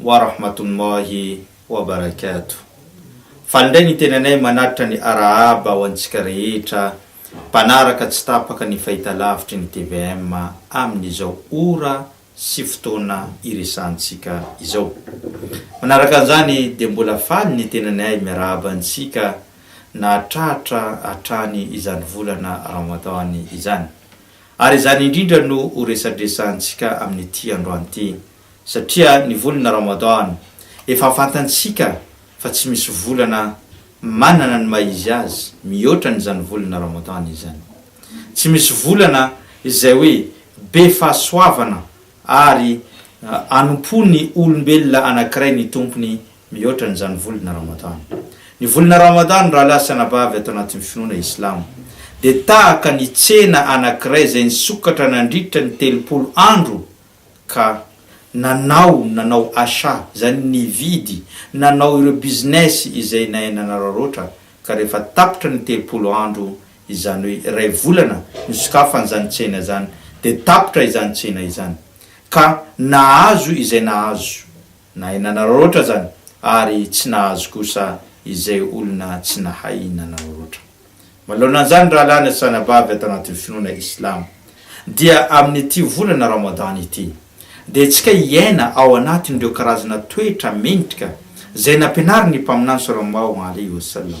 Wa rahmatullahi wa barakatuh. Faly indray ny tenanay manatitra ny Arahaba ho antsika rehetra mpanaraka tsy tapaka ny fahitalavitry ny tvm amin'izao ora sy fotoana iresahantsika izao. Manaraka an'izany dia mbola faly ny tenanay miarahaba antsika nahatratra hatrany izany volana Ramadan izany. Ary izany indrindra no ho resadresahantsika amin'ity androany ity. satria ny volana Ramadan efa fantantsika fa tsy misy volana manana ny maha izy azy mihoatra an' izany volana Ramadan izany. Tsy misy volana izay hoe be fahasoavana ary anompo ny olombelona anankiray ny Tompony mihoatra an' izany volana Ramadan. Ny volana Ramadan rahalahy sy anabavy ato anatin' ny finoana islamo dia tahaka ny tsena anankiray izay nisokatra nandritra ny telopolo andro ka nanao nanao achat, izany nividy, nanao ireo business izay nahay nanararaotra, ka rehefa tapitra ny telopolo andro, izany hoe iray volana nosokafan'izany tsena izany, dia tapitra izany tsena izany, ka nahazo izay nahazo, Nahay nanaraotra zany ary tsy nahazo kosa izay olona tsy nahay nanaraotra. Manoloana an'izany rahalahy na sanabavy ato anatin'ny finoana islamo dia amin'ity volana Ramadan ity dia tsika hiaina ao anatin'ireo karazana toetra mendrika izay nampianarin'ny Mpaminany Sallallahu Alaihi Wasallam.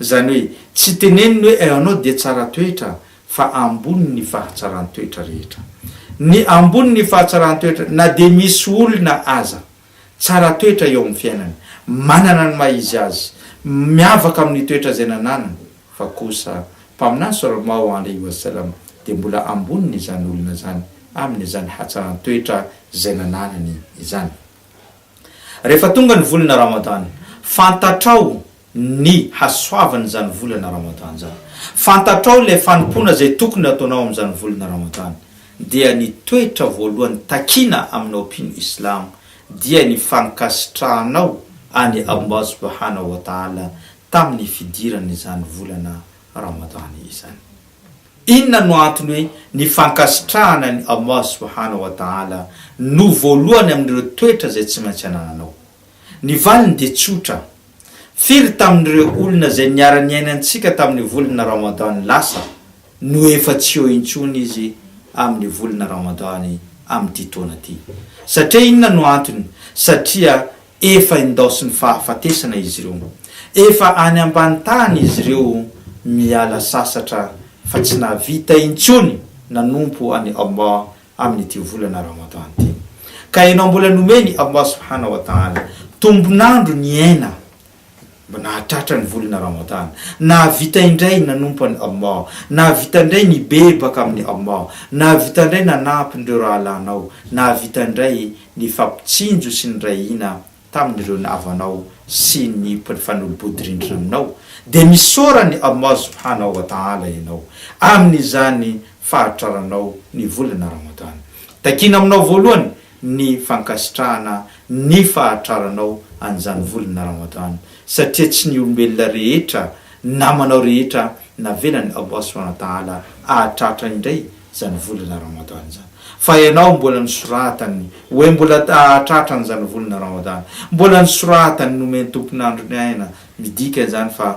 Izany hoe tsy teneniny hoe ianao dia tsara toetra fa ambony ny fahatsaran-toetra rehetra. Ny ambony ny fahatsaran-toetra na dia misy olona aza tsara toetra eo amin'ny fiainany, manana ny maha izy azy, miavaka amin'ny toetra izay nananany, fa kosa Mpaminany Salalmaho Alaihi Wasallam dia mbola ambony ny izany olona izany amin'izany hatsaran-toetra izay nananany izany. Rehefa tonga ny volana Ramadan, fantatrao ny hasoavan'izany volana Ramadan izany. Fantatrao ilay fanompoana izay tokony hataonao amin'izany volana Ramadan. Dia ny toetra voalohany takiana aminao mpino Islamo dia ny fankasitrahanao an'i Allah subhanahu wa ta'ala tamin'ny fidiran'izany volana Ramadan izany. Inona no antony hoe ny fankasitrahana an'i Allah subhanahu wa ta'ala no voalohany amin'ireo toetra izay tsy maintsy anananao? Ny valiny dia tsotra. Firy tamin'ireo olona izay niara-niaina antsika tamin'ny volana Ramadan lasa no efa tsy eo intsony izy amin'ny volana Ramadan amin'ity taona ity? Satria inona no antony? Satria Efa indaosin'ny fahafatesana izy ireo. Efa any ambany tany izy ireo miala sasatra fa tsy nahavita intsony nanompo an'i Allah amin'ity volana Ramadan ity. Ka ianao mbola nomen'i Allah Subhanahu wa Ta'ala tombon'andro niaina Mba nahatratra ny volana Ramadan. Nahavita indray nanompo an'i Allah. Nahavita indray nibebaka amin'i Allah. Nahavita indray nanampy ireo rahalahinao. Nahavita indray nifampitsinjo sy niray hina tamin'ireo navanao sy ny mpifanolo-bodirindrina aminao. Dia misaora an'i Allah subhanahu wa ta'ala ianao amin'izany fahatraranao ny volana Ramadan. Takiana aminao voalohany ny fankasitrahana ny fahatraranao an'izany volana Ramadan satria tsy ny olombelona rehetra namanao rehetra navelan'i Allah subhanahu wa ta'ala hahatratra indray izany volana Ramadan izany fa ianao mbola nosoratany hoe mbola hahatratra an'izany volana Ramadan mbola nosoratany nomen'ny tompon'andro ny aina midika izany fa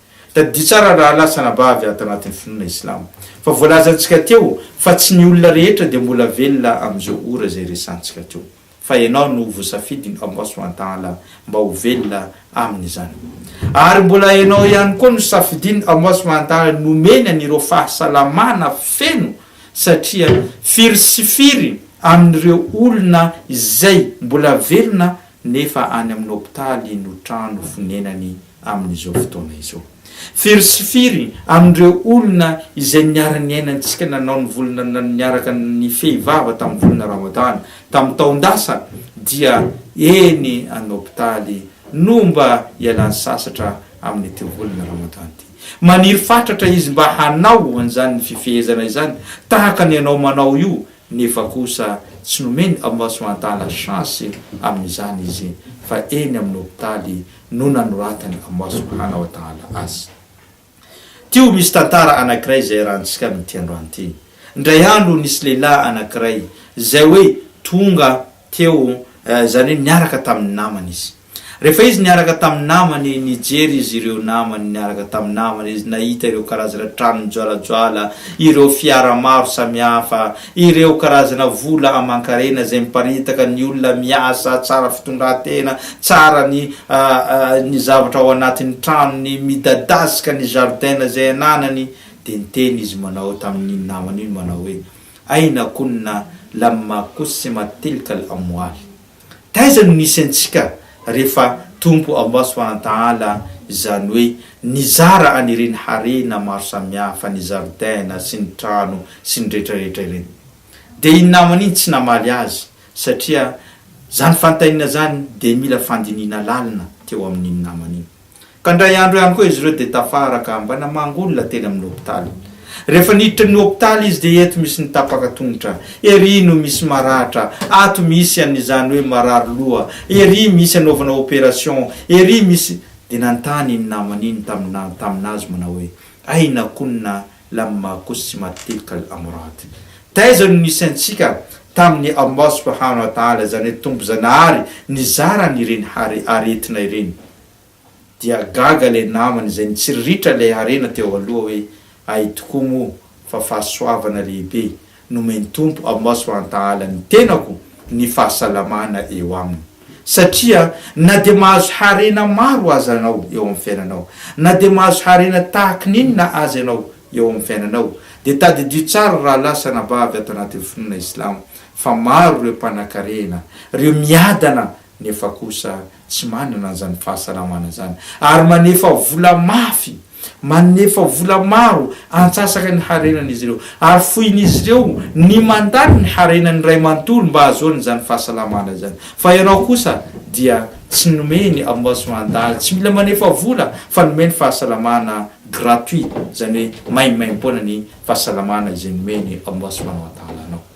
Tadidio tsara rahalahy sy anabavy ato anatin'ny finoana islamo fa voalazantsika teo fa tsy ny olona rehetra dia mbola velona amin'izao ora izay resantsika teo fa ianao no voasafidin'i Allah subhana ta'ala mba ho velona amin'izany ary mbola ianao ihany koa no safidin'i Allah subhana ta'ala nomeny an'ireo fahasalamana feno satria firy sy firy amin'ireo olona izay mbola velona nefa any amin'ny hopitaly no trano fonenany amin'izao fotoana izao. Firy sy firy amin'ireo olona izay niara-niaina antsika nanao ny volana na niaraka nifehy vava tamin'ny volana Ramadana tamin'ny taon-dasa dia eny an hopitaly no mba ialany sasatra amin'ity volana Ramadana ity. Maniry fatratra izy mba hanao an'izany fifehezana izany tahaka ny anao manao io nefa kosa tsy nomeny Allah Subhanahu wa Ta'ala chance amin'izany izy fa eny amin'ny hopitaly no nanoratan'i Allah subhana wa ta'ala azy. Teo misy tantara anankiray izay iarahantsika amin'ity androany ity. Indray andro nisy lehilahy anankiray izay hoe tonga teo, izany hoe niaraka tamin'ny namany izy. Rehefa izy niaraka tamin'ny namany, nijery izy ireo namany niaraka tamin'ny namany izy, nahita ireo karazana trano mijoalajoala, ireo fiara maro samihafa, Ireo karazana vola aman-karena izay miparitaka ny olona miasa tsara fitondran-tena, tsara ny ny zavatra ao anatin'ny tranony, midadasika ny jardin izay ananany, dia niteny izy manao tamin'iny namany iny manao hoe, Aina kunna lamma qussimat tilkal amwal. Taiza no nisy antsika rehefa Tompo Allah Subhanahu wa Ta'ala, izany hoe nizara an' ireny harena maro samihafa, ny zaridaina sy ny trano sy ny rehetra rehetra ireny. Dia iny namany iny tsy namaly azy satria izany fantainina izany dia mila fandinihina lalina teo amin' iny namany iny. Ka indray andro ihany koa izy ireo dia tafara ka mba namangy olona teny amin'ny hopitaly. Rehefa niditra ny hopitaly izy dia eto misy ny tapaka tongotra, ery no misy maratra, ato misy an' izany hoe marary loha, ery misy anaovana operation, ery misy Dia nanontany iny namany iny tamina tamin'azy manao hoe, Aina kunna lamma qussimat tilka al-amrad? Taiza no nisy antsika tamin'ny Allah subhanahu wa ta'ala, izany hoe Tompo Zanahary nizara an'ireny aretina ireny? Dia gaga ilay namany izay nitsiriritra ilay harena teo aloha hoe, Hay tokoa moa fa fahasoavana lehibe nomen'ny Tompo amin'ny maso antahala ny tenako ny fahasalamana eo aminy. Satria na dia mahazo harena maro aza ianao eo amin'ny fiainanao, na dia mahazo harena tahaka ny inona aza ianao eo amin'ny fiainanao, dia tadidio tsara ry rahalahy sy anabavy ato anatin'ny finoana Islamo fa maro ireo mpanankarena, ireo miadana nefa kosa tsy manana an'izany fahasalamana izany ary manefa vola mafy, manefa vola maro antsasaka ny harenan'izy ireo ary fohin'izy ireo ny mandany ny harenany iray manontolo mba hahazoany izany fahasalamana izany fa ianao kosa dia tsy nomeny abmasoandal tsy mila manefa vola fa nomeny fahasalamana gratuit izany hoe maimaimpoana ny fahasalamana izay nomeny abmasoandal anao.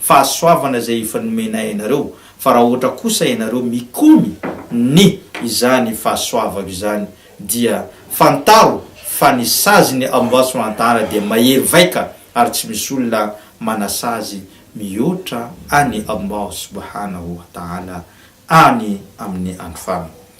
fahasoavana izay efa nomenay anareo, fa raha ohatra kosa ianareo mikomy ny izany fahasoavako izany, dia fantaro fa ny saziny ao Ambasy Manantahana dia mahery vaika ary tsy misy olona manasazy mihoatra Any Allah Subhanahu wa Ta'ala any amin'ny andro farany.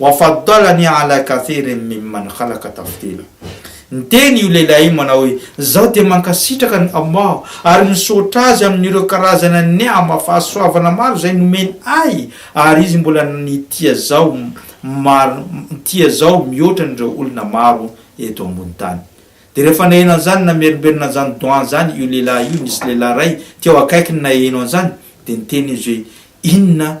Wafadhal anie ala café ireny mime mankalaka tafotena. Niteny io lehilahy io manao hoe, Izaho dia mankasitraka an'i Allah ary misaotra Azy amin'ireo karazana ni'ama, fahasoavana, maro izay nomeny ahy ary Izy mbola nitia zaho maro nitia zaho mihoatra an'ireo olona maro eto ambony tany. Dia rehefa naheno an'izany namerimberina an'izany doha izany io lehilahy io, nisy lehilahy iray teo akaikiny naheno an'izany dia niteny izy hoe, Inona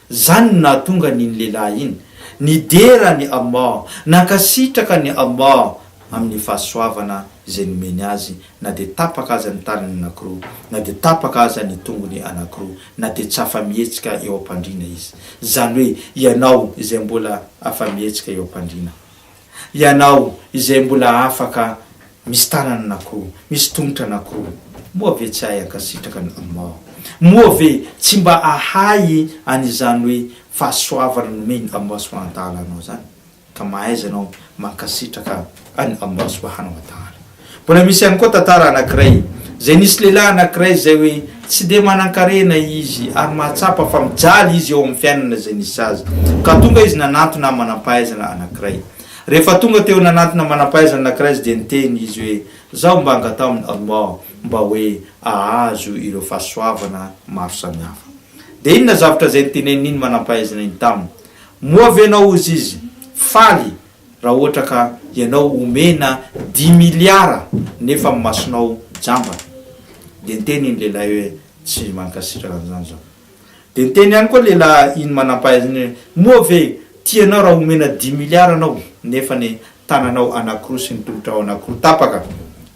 Izany no nahatonga an'iny lehilahy iny nidera an'i Allah, nankasitraka an'i Allah amin'ny fahasoavana izay nomeny azy, na dia tapaka aza ny tanany anankiroa, na dia tapaka aza ny tongony anankiroa, na dia tsy afa-mihetsika eo am-pandriana izy. Izany hoe ianao izay mbola afa-mihetsika eo am-pandriana. Ianao izay mbola afaka misy tanana anankiroa, misy tongotra anankiroa, moa ve tsy ahay ankasitraka an'i Allah? Moa ve tsy mba ahay an'izany hoe fahasoavana nomen'i Allah subhanahu wa ta'ala anao izany? Ka mahaiza ianao mankasitraka an'i Allah subhanahu wa ta'ala? Mbola misy ihany koa tantara anankiray, izay nisy lehilahy anankiray izay hoe tsy dia manankarena izy ary mahatsapa fa mijaly izy eo amin'ny fiainana izay nisy azy, ka tonga izy nanantona manam-pahaizana anankiray. Rehefa tonga teo nanantona manam-pahaizana anankiray izy dia niteny izy hoe, Izaho mba angataho amin'i Allah mba hoe ahazo ireo fahasoavana maro samihafa. Dia inona zavatra izay nitenenin'iny manam-pahaizana iny taminy? Moa ve ianao, hozy izy, faly Raha ohatra ka ianao omena dimy miliara nefa ny masonao jambany dia niteny iny lehilahy hoe tsy mankasitraka an'izany izao. Dia niteny ihany koa lehilahy iny manampahaizana iny hoe moa ve tia anao raha omena dimy miliara anao nefa ny tananao anankiroa sy ny tolotrao anankiroa tapaka?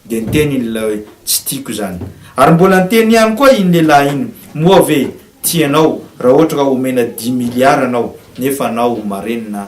Dia niteny iny lehilahy hoe tsy tiako izany. Ary mbola niteny ihany koa iny lehilahy iny moa ve tia anao raha ohatra ka omena dimy miliara anao nefa anao marenina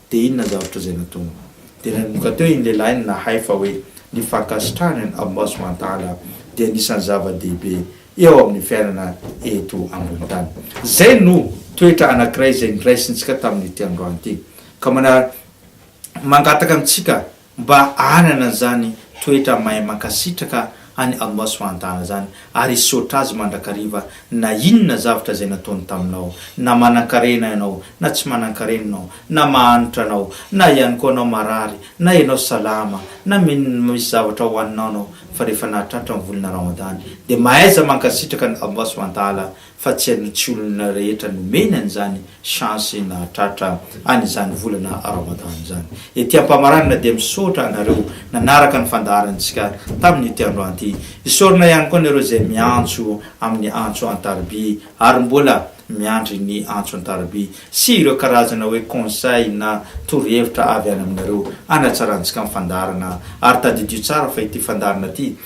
Dia inona zavatra izay nataony? Dia nanomboka teo iny lehilahy iny nahay fa hoe ny fankasitrahana ny Almasiho Antala dia anisan'ny zava-dehibe eo amin'ny fiainana eto ambony tany. Izay no toetra anankiray izay noraisintsika tamin'ity androany ity, ka manara, mangataka amintsika Mba hanana an'izany toetra mahay mankasitraka an'i Allah subhanahu wa ta'ala izany ary hisaotra Azy mandrakariva na inona zavatra izay nataony taminao, na manankarena ianao na tsy manankarena ianao, na mahantra ianao na ihany koa ianao marary, na ianao salama, na misy zavatra hohaninao ianao, fa rehefa nahatratra ny volana Ramadany dia mahaiza mankasitraka an'i Allah subhanahu wa ta'ala fa tsy aloha tsy olona rehetra nomeny an'izany chance nahatratra an'izany volana Ramadan izany. Ety am-pamaranana dia misaotra anareo nanaraka ny fandaharantsika tamin'ity andro an ty. Isaorana ihany koa anareo izay miantso amin'ny antso an-tariby ary mbola miandry ny antso an-tariby sy ireo karazana hoe conseil na torohevitra avy any aminareo anatsarantsika ny fandaharana ary tadidio tsara fa ity fandaharana ity